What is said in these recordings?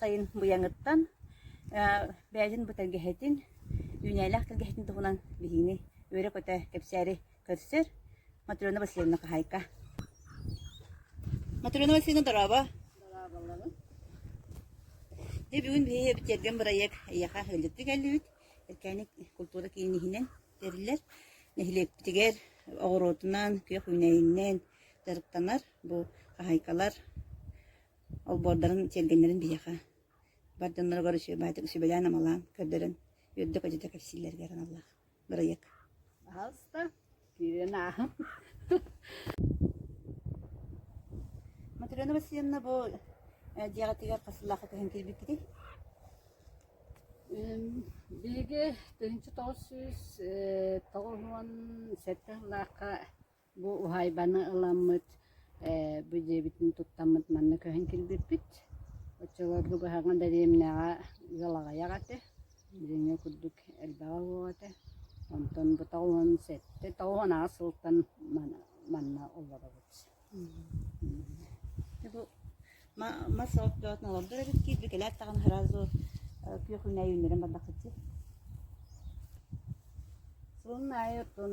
сайын быйаҥыттан бэйэтин бу тэлгэһэтин, үүнээлээх тэлгэһэтин туһунан билиини үөрэ-көтө кэпсээри көрсөр Матрена Васильевна Кахайка. Матрена Васильевна, дорааба. Дэ бүгүн биһиги битэрген бырайыак эйиэхэ өллүктүк кэллибит. Эркээник культура киинниһинэн тэриллэр. Нэһилиэкпитигэр оҕуруотунан, күөх үүнэйинэн дьарыктанар бу хаһайкалар олбуордарын, чилгэннэрин биһиэхэ бар дьонноругар үчүгэйдик сүбэлээн амалаан көрдөрөн үөрдэ-көтүтэ кэпсииллэригэр аналлаах бырайыак. Хаһаайста, киирэн ааһан. Матрена Васильевна бу дьиэҕитигэр хас сыллаахха көһөн киирбиккитий? Биһиги тыһыынча тоҕус сүүс тоҕус уон сэттэ сыллаахха Бу уһаайбаны ыламмыт, ээ, бу дьиэбитин туттаммыт манна көһөн кэлбиппит. Оччолор бу кыһаҥҥы дэриэбинэҕэ ыал аҕыйах этэ, дьиҥэ курдук элбэҕэ суох этэ. Онтон быта уон сэттэ, тоҕус аҕыс сылтан манна олоробут. мас отчётун олордор эбит киирбит кэлээт даҕаны сразу күөхүн аайы үүннэрэн бардаххытчы сылын аайы оттон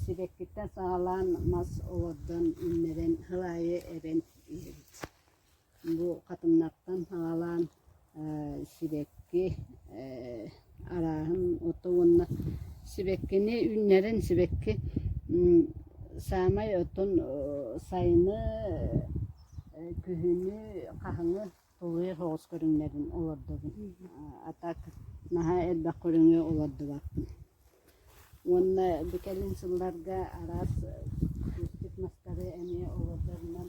сибэккиттэн саҕалаан мас олордон үүннэрэн сыл аайы эбэн иһэбит бу хатыҥнартан саҕалаан сибэкки арааһын ото уонна сибэккини үүннэрэн сибэкки саамай отон сайыны күһүнү хаһыҥы тулуйар соҕус көрүҥнэрин олордобун а так наһаа элбэх көрүҥү олордубаппын уонна бу кэлин сылларга араас кустик мастары эмиэ олордорунан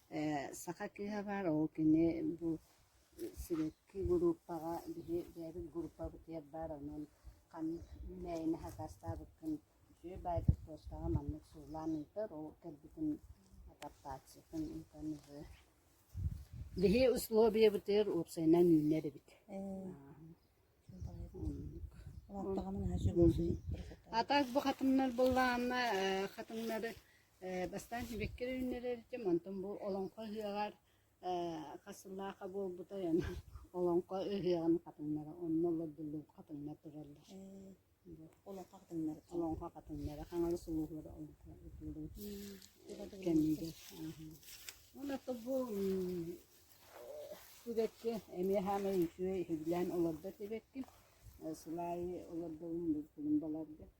Ээ, саха кыыһа баар, ол кини бу сибэкки группаҕа били бэйэбит группабытыгар баар, онон ханнык үүнээйини сакаастаабыккын үчүгэй баайдар туостааҕа маннык суулаан ыытар, ол кэлбитин адаптациятын ыытан ыһы. Били условиебытыгар уопсайынан үүнэр эбит. А так бу хатымнар буллаанна э, хатымнары Ээ, бастаан сибэкки үүннэрэр этим, онтон бу олоҥхо ыһыаҕар ээ хас сыллааха буолбутай аны олоҥхо ыһыаҕын хатыҥнара онно олордуллубут хатыҥнар тураллар. Э, олоҥхо хатыҥнары таҥ- Олоҥхо хатыҥнара Хаҥалас улууһугар олоҥхо утуллубут кэмигэр. аһыы. Уонна то бу м, сибэкки эмиэ саамай үчүгэй иһиллээн олордо сибэкки. Э, Сыл аайы олордолун булумбаларга.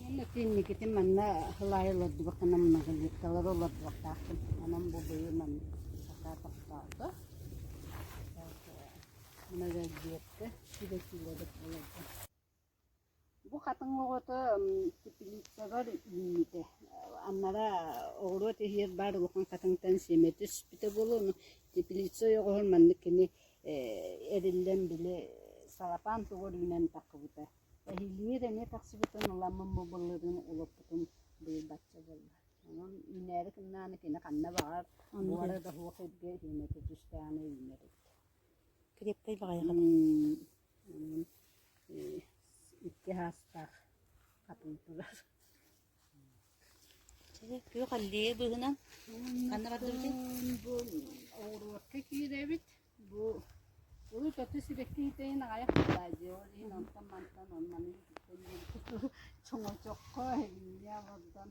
Уонна киинникитин манна сылаайы олордубакканам нагалик талары олордубактаахтым анам бу быйы манна сатаа тохтоото мына да диэккэ килэ-килэ деп олордо Бу хатыҥ оҕото тэпилииссэбэр үүммүтэ. Анараа оҕуруот иһигэр баар улахан хатыҥтан сиэмэ түспүтэ буолуону, тэпилиисэ ойоҕоһун маннык кини эриллэн били салапаан туга үүнэн тахсыбыта. Эһилигэр эмиэ тахсыбытын, ыламмын бобулларын улаппытын быйылбачча буолла. Онон үүнээри гыннаҕына кини ханна баҕар, буора да суох эргэ сиэмэтэ түстээҕинэ үүнэр эбит. Крепкэй баҕайыҕа. икки саастаах хатыҥ тулар күөх аллея быыһынан ханна бардыбытый бу оҕуруотка киирэбит бу урут аты сибэкки иһитейин аҕайах баай дьиэ иһин онтон мантан оннаны иһиттэн диэбит чоҥочоххо эбинньэ олордон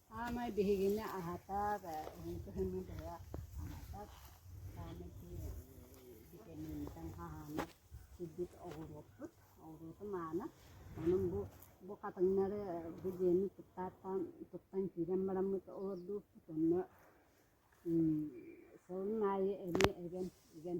Саамай биһигини аһатар, уһунку кэмҥэ быһа аһатар саамай витамиҥҥытын хаһаанар үрдүк оҕуруоппут. Оҕуруотум аана. Онон бу бу хатыҥнары бу дьиэни туттааттаан туттан киирэн бараммыт олордуохпут. Онно сылын аайы эми игэн игэн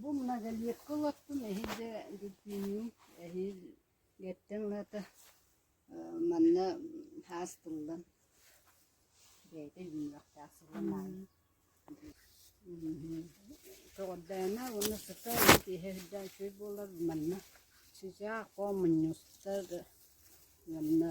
Бу многолетка олоттум, эһиил да дельфиниум, эһиил эттэн аата манна һаас тыллан бэйэтэ иһиллиэхтээх сылын аайы Көҕөрдөөмө уонна сыта уон киэһэ сылдьа үчүгэй буолар манна сычаа хоо мунньуста да уонна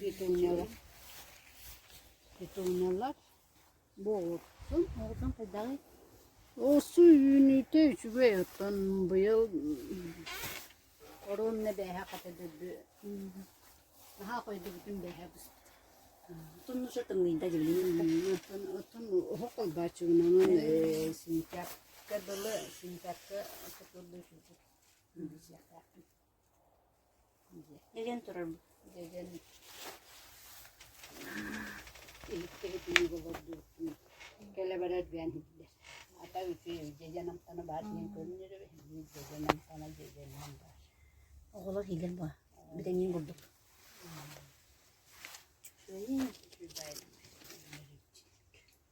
Петуньялар Петуньялар буолуутун оҕотун хайдаҕый? Оссу үүнүүтэ үчүгэй оттон быйыл оруонна бээһэ хата дөрдү наһаа хойдубутун бээһэ быспыт. Туннуса тымныйда дилинин оттон оттон оһох ойбааччыгынан э сентябрьга дылы сентябрьга суккурда үчүгэй. Илин турарбыт дьэдьэн иһиттибит ини олордубутун кэлэ барар диэн иһиттэ хата үчүгэй дьэдьэн амтана баар диэн көрүнэр эбит дьэдьэн амтана дьэдьэнинэн баар оҕолор иилэр буо бүтэниин курдук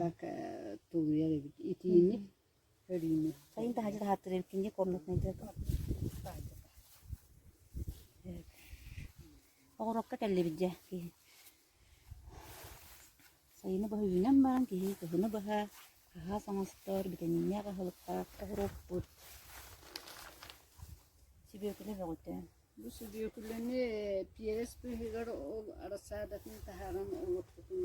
так тулуйар эбит итиини көрүүнү сайын таһырдьа таһаартар эбиккин диэ комнатнайдыарга оҕурокка кэллибит дьэ киһи сайыны быһа үүнэн баран киһи кыһыны быһа хаһаас оҥостор битэмииннээх аһылыктаах оҕуруоппут сүбүөкүлэ бөҕүтэ бу сүбүөкүлэни пиэрэс быыһыгар ол арасаадатын таһааран оҥорпутун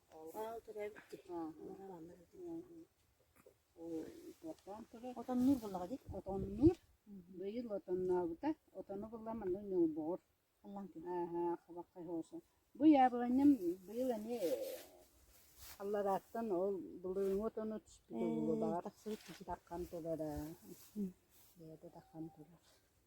Олоон турар, манна отоннуур буоллаҕа дии. Отоннуур. Быйыл отоннообута. Отону булла манна ньолбоҕор. Ааһа, хабаххай хоосо. Бу яабыланньам быйыл эмиэ алларааттан ол былырыҥҥы отону түспүт буолуо. Баҕа тахсыбыт таххан толора. Бэйэтэ таххан толор.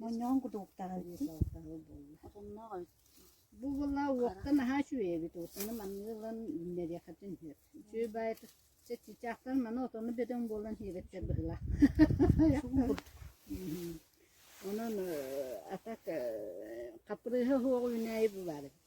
Моонньоҕон кутуруктаҕа буолла. Бу була уокка наһаа үчүгэй эбит. Отону маннык ылан үүннэриэххитин сөп. Үчүгэй баайыта чаччаахтар маны отону бөдөҥ буолан иэбэттэр быһыылаах. Онон а так хапырыыһа суох үүнээйи бу баар эбит.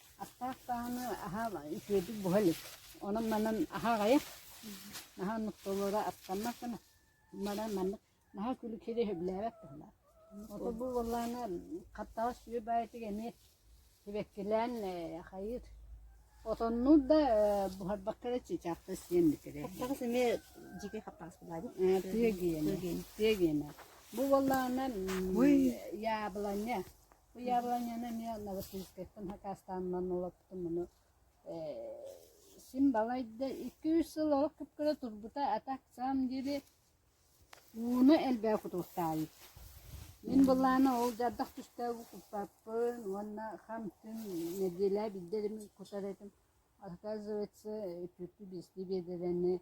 Аттаах даҕаны аһаа үтүөтүк буһа илик. Онон-манан аһаа аҕыйах. Наһаа оннук толоро аттаннар гына баран маннык наһаа күлүк сири сөбүлээбэт туһалаах. Ото бу буоллаана хаттаҕас сүө баайытык эмиэ сибэккилээн э, хайыыр. Отоннуур да э, буһарбакка да чычаахта сиэн битирэ. Хаттаҕас эмиэ дьикэй хаттаҕас баайбыт. Тыа гиэнэ. Тыа гиэнэ. Бу буоллаана яабыланньа Уйаабыланньаны эмиэ Новосибирскайтан хакаастаанынан олоппутум. Ону ээ син балайда икки-үс сыл олох кып-кыра турбута, а так в самом деле ууну элбэҕи кутуруктаабыт. Мин былаана ол дьардах түстээҕи куппаппын уонна хам-түм нэдиэлэ биирдэ эрэ кутар этим. Оказывается, түөртүү-биэстии биэдэрэни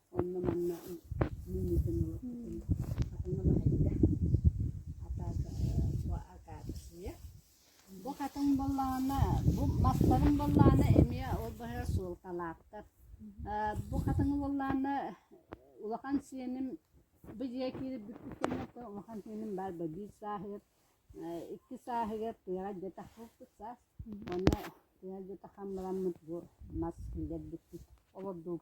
онно-манна мунньутан олордум. Атын улаһайда. Атаата бу акаадысыйа. Бу хатан боллаана, бу мастарым боллаана эмиэ ол быһыгар суолталаахтар. Бу хатан боллаана улахан сиэним бу дьиэ киирбиппит кэнниттэн улахан сиэним баар ба биир сааһыгар, икки сааһыгар тыаҕа дьатах булбут саас. Уонна тыаҕа дьатах хаммыраммыт бу мас иҥэрбиппит, олордубут.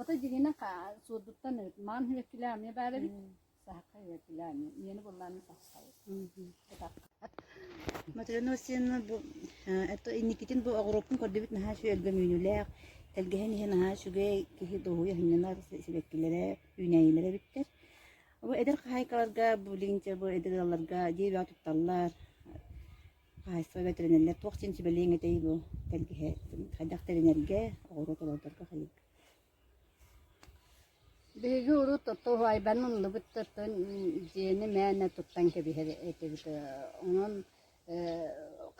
Ото дьигинэ суордуттан маан хүлэккилээн эмиэ баар эбит саһахха хүлэккилээн ийэни буллааны тахсабыт Матрена Васильевна бу это инникитин бу оҕуруоппун көрдүбүт наһаа үчүгэлгэ үүнүүлээх тэлгэһэн иһэ наһаа үчүгэй киһи дуоһуйа сынньанар сибэккилэрэ үүнээйилэрэ эбиттэр бу эдэр хаһаайкаларга бу лентя бу эдэр ыалларга дьиэ бэҕэ тутталлар Хаһаайыстыба бэтэринэрлэр туох син сүбэлиэҥ этэй бу эн киһи хайдах тэринэргэ, оҕуруот олордорго хайыай? Биһиги урут туһаайбан ыллыбыт тыттын дьиэни мээнэ туттан кэбиһэр этибит. Онон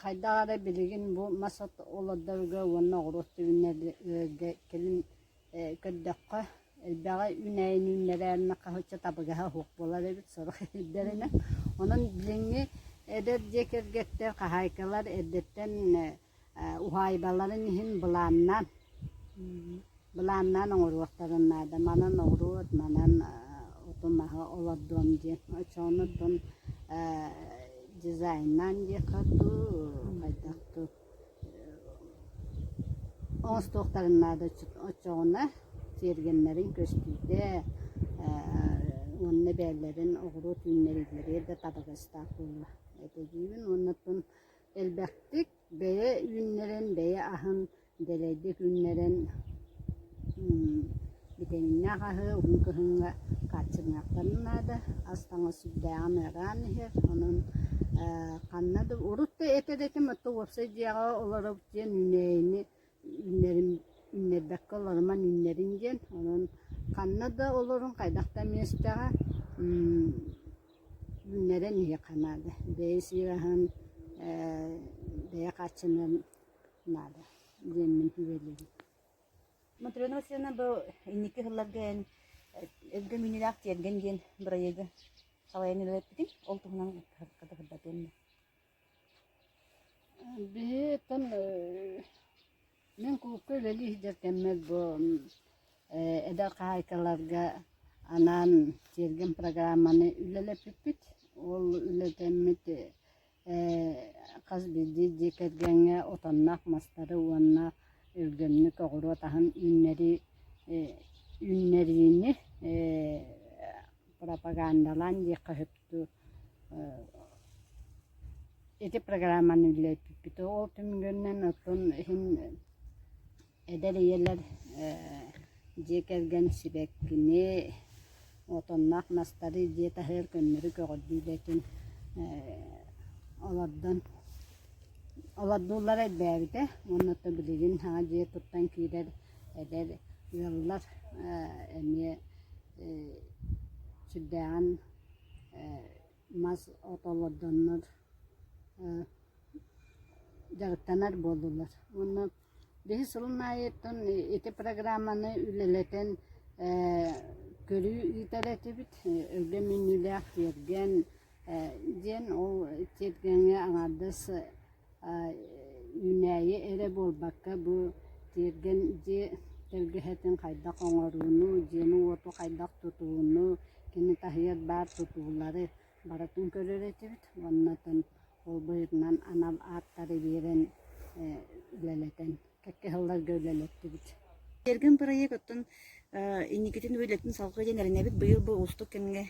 хайдах эрэ билигин бу мас от олордорго уонна оҕуруот түбүннэргэ кэлин көрдөххө элбэҕи үүнээн-үүннэрэн хаһыччы табыгаһа суох буолар эбит сорох ирдэринэн онон билиҥҥи эдэр дьиэ кэргэттэр хаһаайкалар эрдэттэн уһаайбаларын иһин былааннаан былааннаан оҥоруохтарын наада манан ноҕуруот манан оту маһы олордуом диэн оччону дьизайннаан диэххэ дуу хайдах дуу оҥостуохтарын наада оччоҕуна тиэргэннэрин көстүүтэ уонна эбээлэрин оҕуруот үүннэриилэрэ да табыгастаах буолуо этэ диибин уонна оттон элбэхтик бэйэ үүннэрэн бэйэ аһын дэлэйдик үүннэрэн Битэминнээх аһы уһун кыһыҥҥа хааччыныахтарын наада, ас-таҥас сүрдээҕин ыараан иһэр, онон ханна да урут да этэр этим, оттон уопсай дьиэҕэ олорор диэн үүнээйини үүннэрим үүннэрбэккэ олоромон үүннэрин диэн, онон ханна да олорон хайдах да миэстэҕэ үүннэрэн иһиэххэ наада, бэйэ сиир аһын бэйэ хааччыныан наада диэммин күбэлиибин Матрена Васильевна бу инники сылларга эн «Өбүгэ мүнүүлээх тиэргэн» диэн бырайыагы салайан үлэлэппитиҥ, ол туһунан кытыһырдатыам да Биһиттэн мин кулуупка үлэлии сылдьар кэммэр бу эдэр хаһаайкаларга анаан тиэргэн программаны үлэлэппиппит. Ол үлэтэммит Хас биирдии дьиэ кэргэҥҥэ отонноох мастары уонна үргэнник оҕуруот аһын үүннэрии үүннэриини пропагандалаан диэххэ сөптүү ити программаны үллэспиппит ол түмүгүнэн оттон иһин Эдэр ийэлэр дьиэ кэргэн сибэккини, отонноох мастары дьиэ таһыгар көннөрү көҕөрдүүлэтин олордон олордууллара элбээбитэ уонна то билигин саҥа дьиэ туттан киирэр эдэр ыаллар эмиэ сүрдээҕин мас ото олордоннор дьарыктанар буоллулар уонна Биһи сылын аайыттан ити программаны үлэлэтэн ээ көрүү ыытар этибит, өлгөм мүнүүлээх киэргэн ээ диэн ол тиэргэҥҥэ аҥаардас аа үүнээйи эрэ буолбакка бу тиэргэн дьиэ тэлгэһэтин хайдах оҥорууну, дьиэни-уоту хайдах тутууну, кини таһыгар баар тутуулары барытын көрөр этибит уоннатан ол быһыытынан анал ааттары биэрэн үлэлэтэн кэккэһалларга үлэлэттибит Эргин проект оттон инникитин үлэтин салгыы диэн эрэнэбит быйыл бу уустук кэмҥэ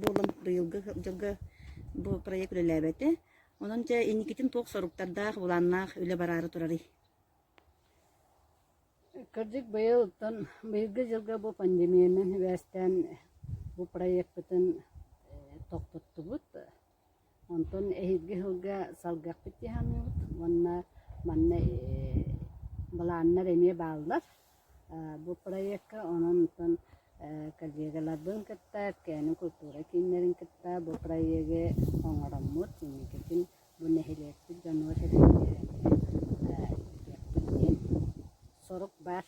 буолан быйылгы дьылга бу проект үлэлээбэтэ онон дьэ инникитин туох соруктардаах былааннаах үлэ бараары турарый Кырдьык, быйылтан, быйылгы дьылга бу пандемиянан сибээстээн бу проекпытын тохпуттубут. Онтон эһиги сылга салгыахпыт дии саныыбыт уонна манна былааннар эмиэ бааллар. Бу проекка онон-онтон коллегаларбын кытта, КЭН культура кииннэрин кытта бу проегы оҥороммут инникитин Бу нэһилиэкпит дьонугар-сэргэбитигэр киирбиппит диэн сорук баар.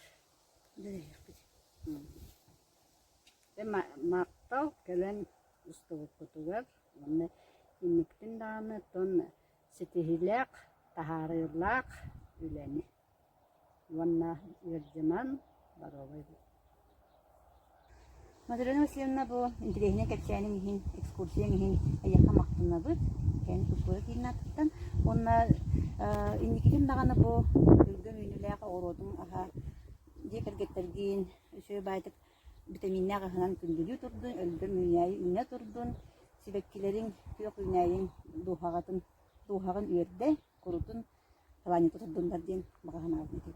Махтал кэлэн устубуккутугар уонна инниктин даҕаны тон ситиһиилээх, таһаарыылаах үлэни уонна ыалдьыман боруобай Мадалена Васильевна бу интэриэһинэй кэпсээниҥ иһин, экскурсияҥ иһин эйиэхэ махтанабыт. Эн култуура киинин аатыттан уонна инникитин даҕаны бу күлгүн үүнүүлээх оҕуруотум аһа дьиэ кэргэттэргин үсүө баайтык битэмииннээх аһынан күндүлүү турдун, өлгөм үүнээйи үүнэ турдун, сибэккилэриҥ, күөх үүнээйиҥ дууһаҕытын дууһаҕын үөрдэ. курутун планета турдуннар диэн баҕа санаабын этиэм